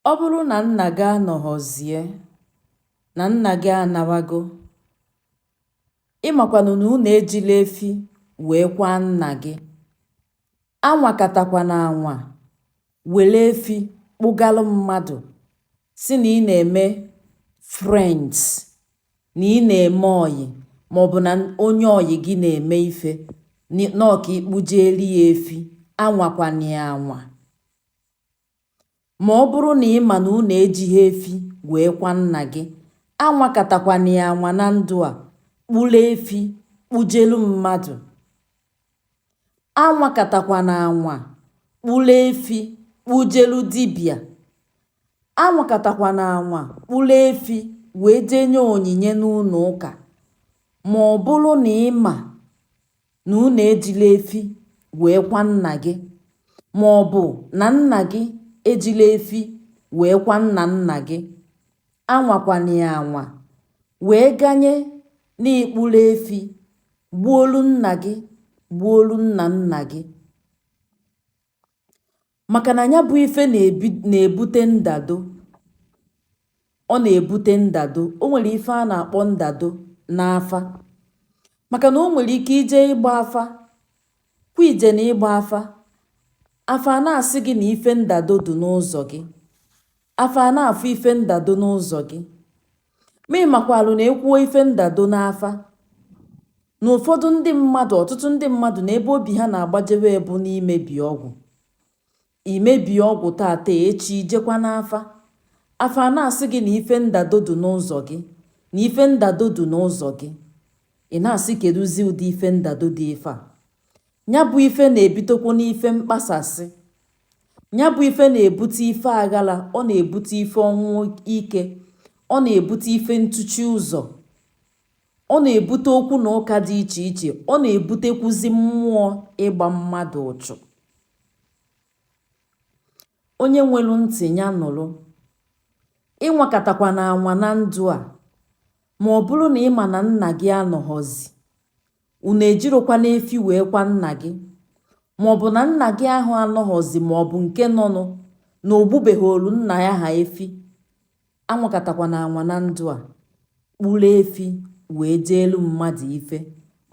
Ọ bụrụ na nna gị anọghọzie, na nna gị anawago, ị makwanụ na unu ejiro efi wee kwaa nna gị. Anwakatakwana anwa were efi kpụgalụ mmadụ sị na ị na-eme friends, na ị na-eme ọyị maọbụ na onye ọyị gị na-eme ife nọọ ka ị kpụjeeli ya efi. Anwakwana ya anwa. Ma ọ bụrụ na ị ma na unu ejighị efi wee kwaa nna gị, anwakatakwana ya anwa na ndụ a, kpụrụ efi kpụjelu mmadụ. Anwakatakwana anwa kpụrụ efi kpụjelu dibịa. Anwakatakwana anwa kpụrụ efi wee jee nye onyinye n'ụnọ ụka. Ma ọ bụrụ na ị ma na unu ejiro efi wee kwaa nna gị, ma ọ bụ na nna gị ejiro efi wee kwaa nna nna gị, anwakwana ya anwa, wee ganye na ị kpụrụ efi gbuolu nna gị gbuolu nna nna gị. maka na nya bụ ife na-ebute ndado ọ na-ebute ndado o nwere ife a na-akpọ ndado n'afa maka na o nwere ike ije ịgba afa kwa ije na ịgba afa afa ana-asị gị na ife ndado dị n'ụzọ gị afa ana-afụ ife ndado n'ụzọ gị Ma ị makwalu na e kwuo ife ndado n'afa na ụfọdụ ndị mmadụ ọtụtụ ndị mmadụ na ebe obi ha na-agbajewe bụ n'imebi ọgwụ i mebie ọgwụ tata echi i jekwa n'afa afa ana-asị gị na ife ndado dị n'ụzọ gị na ife ndado dị n'ụzọ gị ị na-asị kedụzi ụdị ife ndado dị ife a ya bụ ife na-ebutekwanụ ife mkpasasị nya bụ ife na-ebute ife aghala ọ na-ebute ife ọnwụ ike ọ na-ebute ife ntụchi ụzọ ọ na-ebute okwu na ụka dị iche iche ọ na-ebutekwuzi mmụọ ịgba mmadụ ụchụ onye nwelu ntị nya nụrụ ịnwakatakwana anwa na ndụ a ma ọ bụrụ na ị ma na nna gị anọghọzi unu ejirokwanụ efi wee kwaa nna gị ma ọ bụ na nna gị ahụ anọghọzi ma ọ bụ nke nọnụ na o gbubeghoolu nna ya ha efi anwakatakwana anwa na ndụ a kpụrụ efi wee jeelu mmadụ ife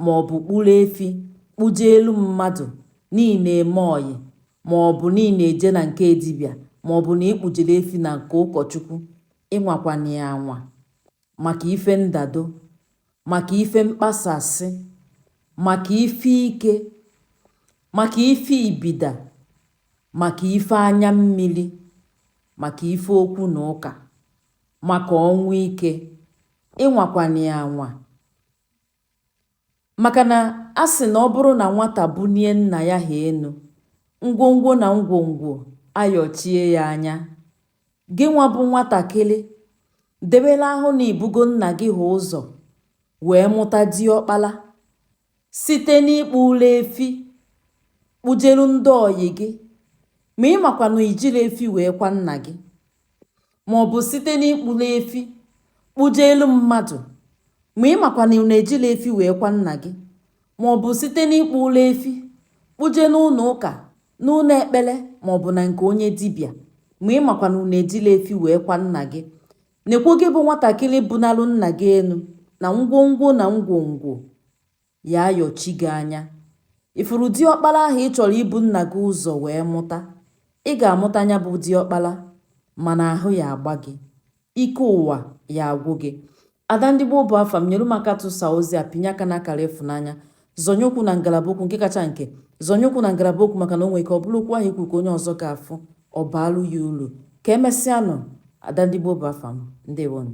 ma ọ bụ kpụrụ efi kpụjeelu mmadụ na ị na-eme ọyị ma ọ bụ na ị na-eje na nke dibịa ma ọ bụ na ị kpụjere efi na nke ụkọchukwu ịnwakwana ya anwa maka ife ndado maka ife mkpasasị maka ife ike maka ife ibida maka ife anya mmiri maka ife okwu na ụka maka ọnwụ ike ị nwakwana ya anwa maka na a sị na ọ bụrụ na nwata bunie nna ya ha enu ngwongwo na ngwongwo ayọchie ya anya Gị nwa bụ nwatakịrị, debela ahụ na i bugo nna gị ha ụzọ wee mụta diọkpala site n'ịkpụlụ efi kpụjelu ndị ọyị gị ma ị makwa na i jirọ efi wee kwa nna gị maọbụ site n'ịkpụlụ efi kpụjelu mmadụ ma ị makwa na unu ejirọ efi wee kwa nna gị ma ọ bụ site n'ịkpụlụ efi kpụje n'ụnọ ụka n'ụnọ ekpele ma ọ bụ na nke onye dibịa ma ị makwa na unu ejirọ efi wee kwa nna gị nekwo gị bụ nwatakịrị bunalụ nna gị enu na ngwongwo na ngwongwo ya ayọchi gị anya ị fụrụ diọkpala ahụ ị chọrọ ibu nna gị ụzọ wee mụta ị ga-amụta nya bụ diọkpala mana ahụ ya agba gị ike ụwa ya agwụ gị ada ndị gboo bụ afa m nyere m aka tụsa ozi a pịnye aka n'akara ịfụnanya zọnye okwu na ngalaba okwu nke kacha nke zọnye okwu na ngalaba okwu maka na o nwere ike ọ bụrụ okwu ahụ i kwu ka onye ọzọ ga-afụ ọ baalụ ya ulu ka emesịanụ ada ndị gboo bụ afa m ndewonụ